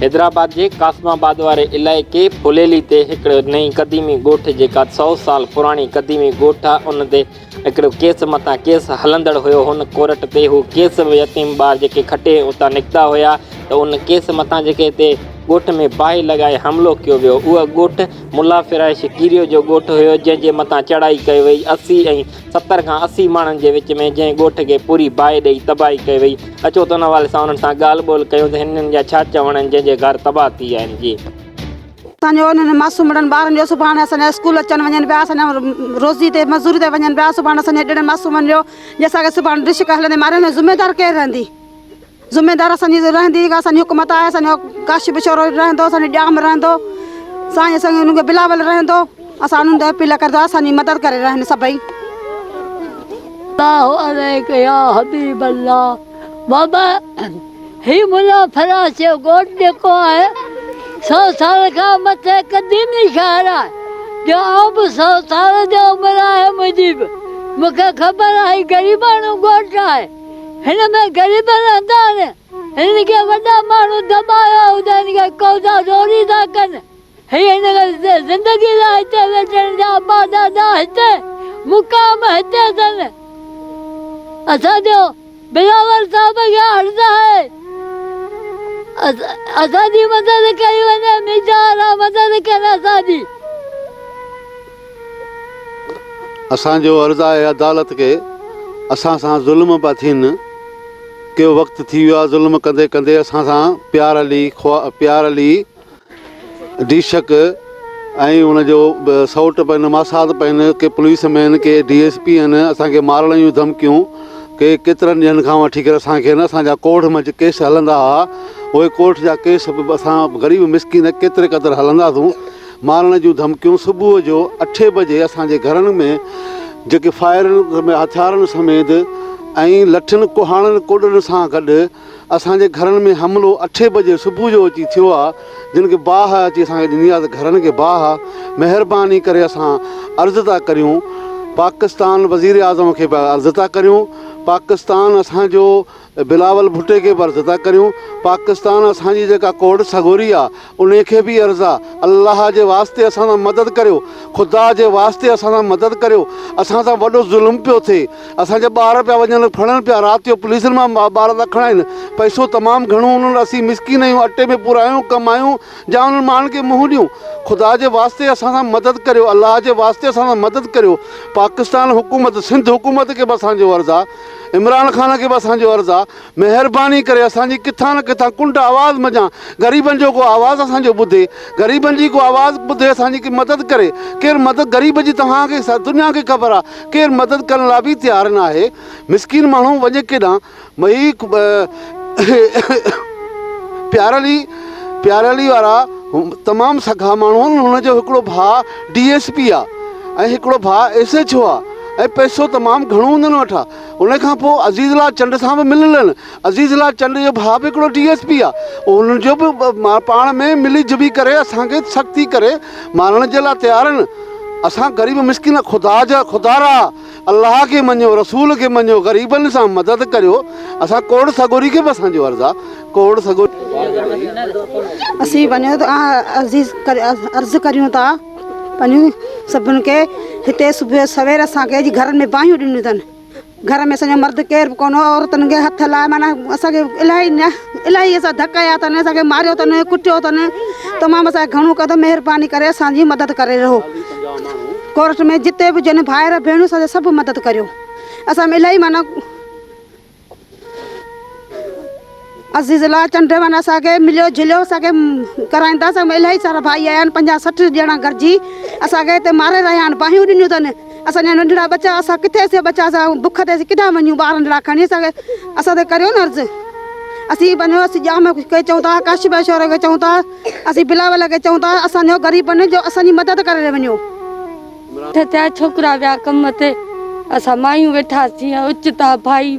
حيدرآباد جي قاسم آباد واري علائقي ڦليلي تي هڪڙي نئين قديمي ڳوٺ جيڪا سؤ سال پراڻي قديمي ڳوٺ آ ان تي هڪڙو ڪيس مٿان ڪيس هلندڙ هيو هن ڪورٽ تي هو ڪيس يتيم ٻار جيڪي کٽي اتان نڪتا هيا ته ان ڪيس مٿان جيڪي هتي ڳوٺ ۾ باهه لڳائي حملو ڪيو ويو اهو ڳوٺ ملا فرائش ڪيريو جو ڳوٺ هيو جنهن جي مٿان چڙهائي ڪئي وئي اسي ۽ ستر کان اسي ماڻهن جي وچ ۾ جنهن ڳوٺ کي پوري باهه ڏئي تباهي ڪئي وئي. اچو ته ان حوالي سان انهن سان ڳالهه ٻولهه ڪيون ته هنن جا ڇا چوڻ آهن جن جي گهر تباهه ٿي ويا آهن. جي. اسان جو انهن معصومڙن ٻارن جو سڀاڻي اسان جا اسڪول اچن وڃن پيا اسان جا روزي تي مزوري تي وڃن پيا سڀاڻي اسان جي اهڙن معصومن جو جي اسان کي سڀاڻي ڊشڪ هلندي ماريندي ذميدار ڪير رهندي ذميدار اسان جي رهندي اسان جي حڪومت آهي اسان جو ڪاش به شورو رهندو اسان جو ڄام رهندو سائين سنگي انهن کي بلاول رهندو اسان انهن تي اپيل ڪردا اسان جي مدد ڪري رهن سڀئي. الله عليڪ يا حبيب الله بابا هي ملا فراز جو ڳوٺ جيڪو آهي سو سال کان مٿي قديمي شهر آهي جو آئون به سو سال جو عمر آهي منهنجي به مونکي خبر آهي غريباڻو ڳوٺ آهي. هن ۾ غريبن هندان هنن کي وڏا ماڻهو دٻايو هو ته هن کي قوضا زوري ٿا ڪن. هي هن کي زندگي لاء هتي ويٺن جا ابا ڏاڏا هتي مقام هتي اٿن. اسان جو بلاول صاحب کي عرض آهي اسان جي مدد ڪئي وڃي ميجا وارا مدد ڪن اسان جي. اسان جو عرض آهي عدالت کي، اسان سان ظلم پيا ٿين، ڪيو وقت ٿي ويو آهي ظلم ڪندي ڪندي اسان سان پيار علي خوا پيار علي ڊيشڪ ۽ ان جو سئوٽ پن ماسات پن ڪي پوليس مين ڪي ڊي ايس پي ان اسان کي مارڻ جون ڌمڪيون ڪي ڪيترن ڏينهن کان وٺي ڪري اسان کي اسان جا ڪورٽ ۾ ڪيس هلندا هئا اهي ڪورٽ جا ڪيس اسان غريب مسڪين ڪيتري قدر هلنداسون مارڻ جون ڌمڪيون صبح جو اٺين بجي اسان جي گهرن ۾ جيڪي فائرنگ ۾ هٿيارن سميت ۽ لٺين ڪهاڙن ڪوڏن سان گڏ اسان جي گهرن ۾ حملو اٺين بجي صبح جو اچي ٿيو آ جن کي باهه اچي اسان کي ڏني آ ته گهرن کي باهه آ مهرباني ڪري اسان عرض ٿا ڪريون پاڪستان وزير اعظم کي به عرض ٿا ڪريون پاڪستان اسان جو بلاول ڀٽي کي به عرض ٿا ڪريون پاڪستان اسان جي جيڪا ڪوڙ سڳوري آ انهي کي به عرض آ، الله جي واسطي اسان سان مدد ڪريو، خدا جي واسطي اسان سان مدد ڪريو، اسان سان وڏو ظلم پيو ٿئي، اسان جا ٻار پيا وڃن، ڦڙن پيا، رات جو پوليسن مان ٻار ٿا کڻائين، پئسو تمام گهڻو هوندو آ، اسين مسڪين آهيون، اٽي ۾ پورا آهيون، ڪم آهيون، جا انهن ماڻهن کي منهن ڏيون، خدا جي واسطي اسان سان مدد ڪريو، الله جي واسطي اسان سان مدد ڪريو، پاڪستان حڪومت، سنڌ حڪومت کي به اسان جو عرض آ، عمران خان کي به اسان جو عرض آ، مهرباني ڪري اسان جي ڪٿان نه ڪٿان ڪنڊ آواز منجهان غريبن جو ڪو آواز اسان جو ٻڌي غريبن جي ڪو آواز ٻڌي اسان جي ڪي مدد ڪري ڪير مدد غريب جي توهان کي سر دنيا کي خبر آ ڪير مدد ڪرڻ لا به تيار ناهي مسڪين ماڻهو وڃي ڪيڏانهن مهي پيارلي پيارلي وارا تمام سگها ماڻهو آهن هن جو هڪڙو ڀاء ڊي ايس پي آ ۽ هڪڙو ڀاء ايس ايڇ او آ ۽ پئسو تمام گهڻو هندن وٽ آ ان کان پوء عزيز لال چنڊ سان به مللن. عزيز لال چنڊ جو ڀاء به هڪڙو ڊي ايس پي آهي. انهن جو به پاڻ ۾ ملي جلي ڪري اسان کي سختي ڪري مارڻ جي لاء تيار آهن. اسان غريب مسڪين خدا جا خدارا الله کي مڃيو رسول کي مڃيو غريبن سان مدد ڪريو اسان ڪوڙ سڳوري کي به اسان جو عرض آهي ڪوڙ سڳوري. اسين وڃون ٿا عرض ڪريون ٿا. پنهون سڀن کي هتي صبح سوير اسان کي جي گهرن ۾ باهيون ڏنيون اٿن گهر ۾ اسان جا مرد ڪير به ڪونه هو عورتن کي هٿ لاء معنيٰ اسان کي الاهي نه الاهي اسان ڌڪ هنيا اٿن اسان کي ماريو اٿن ڪٽيو اٿن تمام اسان کي گهڻو قدم مهرباني ڪري اسان جي مدد ڪري رهو ڪورٽ ۾ جتي به جن ڀائر ڀيڻيون سان سڀ مدد ڪريو اسان ۾ الاهي معنيٰ عزيز الله چنڊ مان اسان کي مليو جليو اسان کي ڪرائين ٿا اسان ۾ الاهي سارا ڀائي آيا آهن پنجاهه سٺ ڄڻا گڏجي اسان کي هتي ماري رهيا آهن باهيون ڏنيون اٿن اسان جا ننڍڙا ٻچا اسان ڪٿي اسين ٻچا اسان بک تي اسين ڪيڏانهن وڃون ٻار ننڍڙا کڻي اسان کي اسان تي ڪريو نه عرض اسين پنهنجو اسين ڄام کي چئون ٿا ڪاشف بھاء شورو کي چئون ٿا اسين بلاول کي چئون ٿا اسانجو غريبن جو اسانجي مدد ڪري وڃو اٺ ٿيا ڇوڪرا ويا ڪم تي، اسان مايون ويٺاسين ۽ اوچتا ڀائي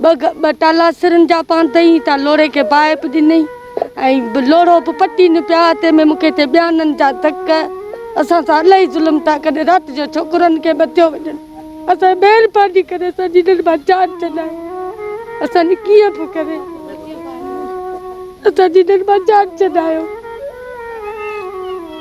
ٻه ٽالا سرن جا پانڌئين تان لوڙهي کي باهه به ڏنئي ۽ لوڙهو به پٽين پيا، تنهن ۾ مون کي ٿي ٻيانن جا ڌڪ، اسان سان الاهي ظلم ٿا ڪن، رات جو ڇوڪرن کي به ٿيو وڃن، اسان مهرباني ڪري اسان جي هنن مان جان ڇڏايو، اسان جي ڪيئن به ڪري اسان جي هنن مان جان ڇڏايو.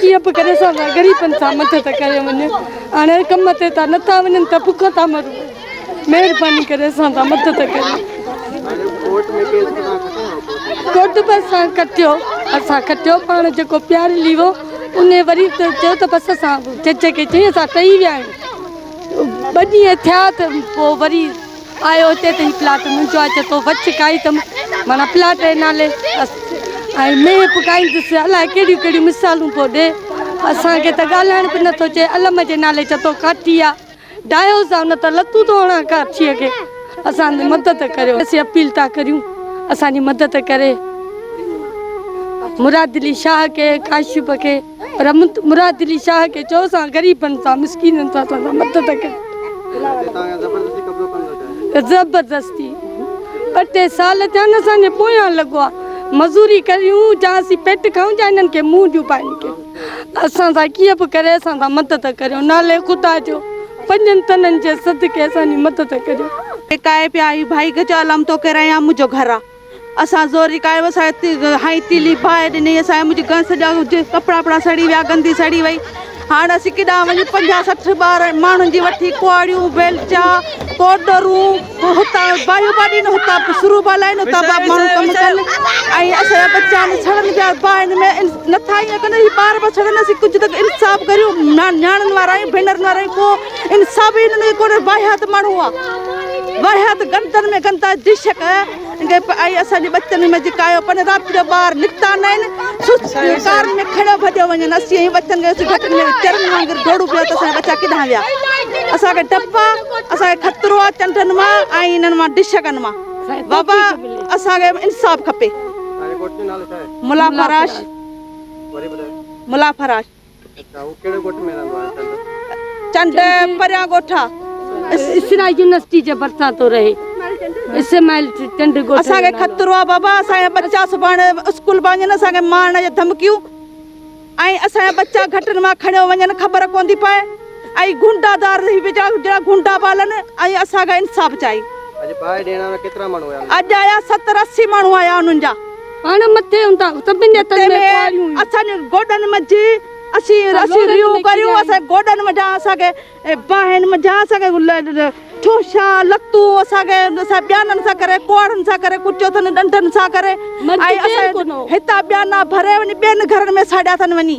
ڪيئن به ڪري سان غريبن سان مدد ڪري وڃي هاڻي ڪم تي ته نٿا وڃن ته بک ٿا مرون مهرباني ڪري سان ٿا مدد ڪري ڪوٽ به اسان کٽيو اسان کٽيو پاڻ جيڪو پيار لي ويو ان وري چيو ته بس اسان جج کي چيئي اسان ٽهي ويا آهيون ٻه ڏينهن ٿيا ته پوء وري آيو اتي ته هي پلاٽ منهنجو آهي چي تو وڇ ڪائي ته معنيٰ پلاٽ جي نالي بس ۽ مينهن پڪائيندس الاء ڪهڙيون ڪهڙيون مثالون پيو ڏي اسان کي ته ڳالهائڻ به نٿو چي علم جي نالي چي تو ڪاٺي آ ڊاهيو سان نه ته لتون ٿو هڻان ڪاٺي کي اسان جي مدد ڪريو اسين اپيل ٿا ڪريون اسان جي مدد ڪري مراد علي شاهه کي ڪاشف کي پر مراد علي شاهه کي چئو سان غريبن سان مسڪينن سان سندان مدد ڪري زبردستي ٻه ٽي سال ٿيا آهن اسان جي پويان لڳو آهي مزوري ڪريون جا اسين پيٽ کائون جا انهن کي منهن ڏيون پاڻي کي اسان سان ڪيئن به ڪري اسان سان مدد ڪريو نالي خدا جو پنجن تنن جي صدقي اسان جي مدد ڪريو ڪاهي پيا اي ڀائي گجالم توکي رهيان منهنجو گهر آ. اسان زوري ڪايو اسان هائي تيلي باهه ڏني اسان منهنجي گهر سڄا ڪپڙا وپڙا سڙي ويا گندي سڙي وئي هاڻ اسين ڪيڏا وڃون پنجاهه سٺ ٻار ماڻهن جي وٺي ڪهاڙيون بيلچا پوڊرون هتان بايو باڊي نه هتان سرو بالا نه هتان ماڻهو ڪم ڪن ۽ اسان جا بچا نه سڙن پيا باهن ۾ نٿا ائين ڪن ٻار به سڙن اسين ڪجهه ته انصاف ڪريو نياڻن وارا آهيون ڀينرن وارا آهيون ڪو ان سڀني ۾ ڪو نه واهيات ماڻهو آ واهيات گندن ۾ گندا دشڪ انگي پ آئي اسان جي بچن ۾ جڪايو پن رات جو بار نڪتا نين سست کار ۾ کڙو ڀڏيو وڃن اسي هي بچن کي گهٽ ۾ چرن وانگر ڊوڙو پيا ته اسان بچا ڪيڏا ويا اسان کي ٽپا اسان کي خطرو آ چنڊن ما آئي انن ما دشڪن ما بابا اسان کي انصاف کپي ملا فراش ملا فراش چنڊ پريان ڳوٺا اسرائيل يونيورسٽي جي ڀرسان ٿو رهي اسماعيل چنڊ ڳوٺ اسان کي خطرو آ بابا اسان جا ٻچا سڀاڻي اسڪول پيا وڃن اسان کي مارڻ جا ڌمڪيون ۽ اسان جا ٻچا گهٽن مان کڻيو وڃن خبر ڪون ٿي پئي ۽ گونڊا دار هي ويجا جهڙا گونڊا بالن ۽ اسان کي انصاف چاهي اڄ آيا 70 80 ماڻهو آيا انهن جا اڻ مٿي هوندا سڀني هٿن ۾ ڪواريون هيون. اسان گوڏن منجهه اسين اسين ريون ڪريون اسان گوڏن منجهان اسان کي باهن منجهان اسان کي ٺوشا لتون اسان کي اسان ٻيانن سان ڪري ڪوڙهن سان ڪري ڪچو اٿن ڏنڊن سان ڪري ۽ اسان هتان ٻيانا ڀري وڃي ٻين گهرن ۾ ساڙيا اٿن وڃي.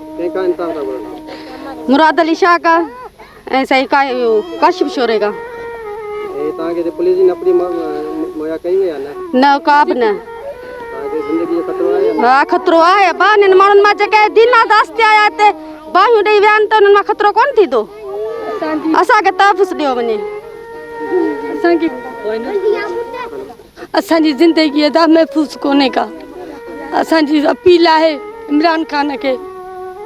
مراد علي شاهه کا ۽ سائين کا ڪاشف شوري کا نه ڪا به نه ها خطرو آهي ابا انهن ماڻهن مان جيڪي دين آزاس ٿي آيا هتي باهيون ڏيئي ويا آهن ته انهن مان خطرو ڪونه ٿيندو اسان کي تحفظ ڏيو وڃي اسان کي اسان جي زندگي ادا محفوظ ڪونهي ڪا اسان جي اپيل آهي عمران خان کي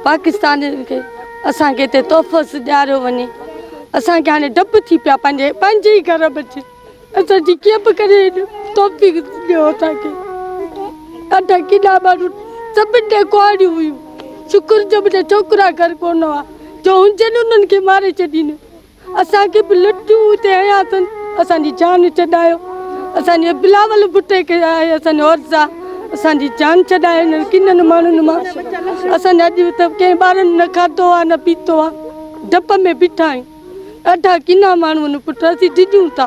پاڪستان کي اسان کي هتي تحفظ ڏياريو وڃي اسان کي هاڻي ڊپ ٿي پيا پنهنجي پنهنجي ئي گهر بچي اسان جي ڪيئن به ڪري توفيق ڏيو اسان کي ادا ڪيڏا ماڻهو سڀني جي ڪهاڙيون هيون شڪر جو منهنجا ڇوڪرا گهر ڪونه هئا جو هجن انهن کي ماري ڇڏين اسان کي به لٽيون اتي هيا اٿن اسان جي جان چڏايو اسان جي بلاول بٽي کي آهي اسان جو عرض آ اسان جي جان چڏايو نه ڪنن ماڻهن مان اسان جا اڄ ته ڪنهن ٻارن نه کاڌو آ نه پيتو آ ڊپ ۾ بيٺا آهيون ڏاڍا ڪنا ماڻهو آهن پٽ اسين ڊڄون ٿا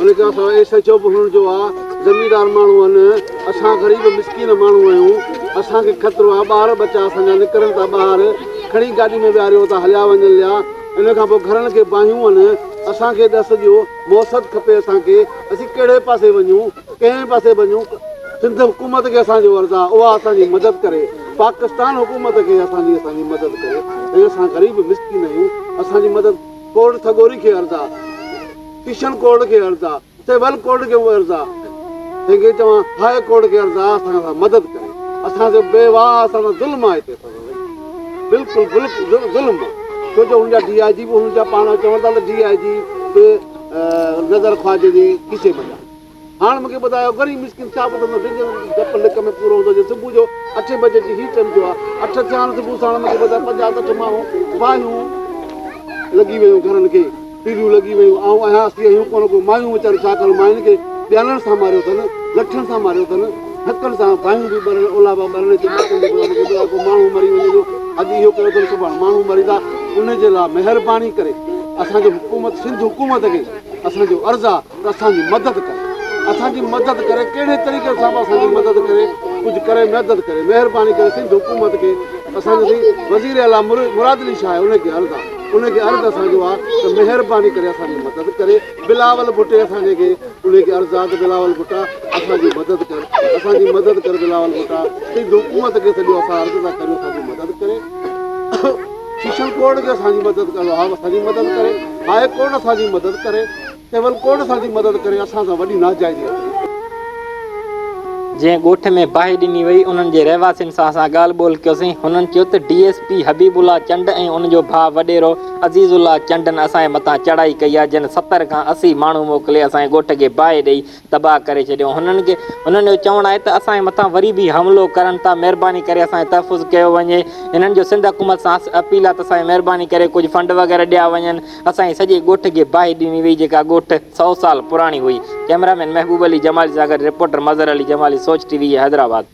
ان کان سواء اهي سچو به هئڻ جو آ زميندار ماڻهو هن اسان غريب مسڪين ماڻهو آهيون اسان کي خطرو آ ٻار ٻچا اسان جا نڪرن ٿا ٻاهر کڻي گاڏي ۾ ويهاريو اتان هليا وڃن ليا ان کان پوء گهرن کي باهيون هن اسان کي ڏس ڏيو مهست کپي اسان کي اسين ڪهڙي پاسي وڃون ڪنهن پاسي وڃون سنڌ حڪومت کي اسان جو عرض آ اها اسان جي مدد ڪري پاڪستان حڪومت کي اسان جي اسان جي مدد ڪري ۽ اسان غريب مسڪين آهيون اسان جي مدد ڪورٽ سڳوري کي عرض آ ڪشن ڪورٽ کي عرض آ، سول ڪورٽ کي به عرض آ، تنهن کي چوان هاء ڪورٽ کي عرض آ اسان سان مدد ڪري، اسان جو بيواهه اسان سان ظلم آ هتي فضل بئي، بلڪل بلڪل ظلم آ، ڇو جو هن جا ڊي آء جي به هن جا پاڻ چون ٿا ته ڊي آء جي به نظر خواجه جي کيسي ۾ آ. هاڻ مونکي ٻڌايو غريب مسڪين ڇا ٻڌندو جنهن جو ڊپ لڪ ۾ پورو هوندو جي صبح جو اٺين بجي جي هي ٽيم ٿيو آهي اٺ ٿيا آهن صبح ساڻ مونکي ٻڌايو پنجاهه سٺ ماڻهو باهيون لڳي ويون گهرن کي پيليون لڳي ويون آئون اهيان اسي اهيون ڪونه ڪو مايون ويچاريون ڇا ڪن ماين کي ٻيالن سان ماريو اٿن لٺن سان ماريو اٿن ڌڪن سان باهيون به ٻرن اولابا ٻرن جي ماڻهو مري وڃي جو اڄ اهو ڪيو اٿن سڀاڻ ماڻهو مريندا ان جي لاء مهرباني ڪري اسان جو حڪومت سنڌ حڪومت کي اسان جو عرض آهي ته اسان جي مدد ڪري اسان جي مدد ڪري ڪهڙي طريقي سان به اسان جي مدد ڪري ڪجهه ڪري مدد ڪري مهرباني ڪري سنڌ حڪومت کي اسان جو سائين وزير اعليٰ مراد علي شاهه ان کي عرض آهي ان کي عرض اسان جو آهي ته مهرباني ڪري اسان جي مدد ڪري بلاول ڀٽي اسان جي کي ان کي عرض آهي ته بلاول ڀٽا اسان جي مدد ڪر اسان جي مدد ڪر بلاول ڀٽا سنڌ حڪومت کي سڄو اسان عرض ٿا ڪريون اسان جي مدد ڪري شيشن ڪورٽ کي اسان جي مدد ڪري اسان جي مدد ڪري هاء ڪورٽ اسان جي مدد ڪري ڪيول ڪوڙ اسان جي مدد ڪري اسان سان وڏي ناجائزي ڪئي. جنهن ڳوٺ ۾ باهه ڏني وئي انهن جي رهواسين سان اسان ڳالهه ٻولهه ڪيوسين هنن چيو ته D S P Habibullah Chand ۽ ان جو ڀاء وڏيرو عزيز الله چنڊن اسان جي مٿان چڙهائي ڪئي آهي جن ستر کان اسي ماڻهو موڪلي اسان جي ڳوٺ کي باهه ڏئي تباهه ڪري ڇڏيو هنن کي هنن جو چوڻ آهي ته اسان جي مٿان وري به حملو ڪرن ٿا مهرباني ڪري اسان جو تحفظ ڪيو وڃي هنن جو سنڌ حڪومت سان اپيل آهي ته اسان کي مهرباني ڪري ڪجهه فنڊ وغيره ڏيا وڃن اسان جي سڄي ڳوٺ کي باهه ڏني وئي جيڪا ڳوٺ سؤ سال پراڻي هئي ڪئميرا مين محبوب علي جمالي سان گڏ رپورٽر مظهر علي جمالي سوچ ٽي وي حيدرآباد.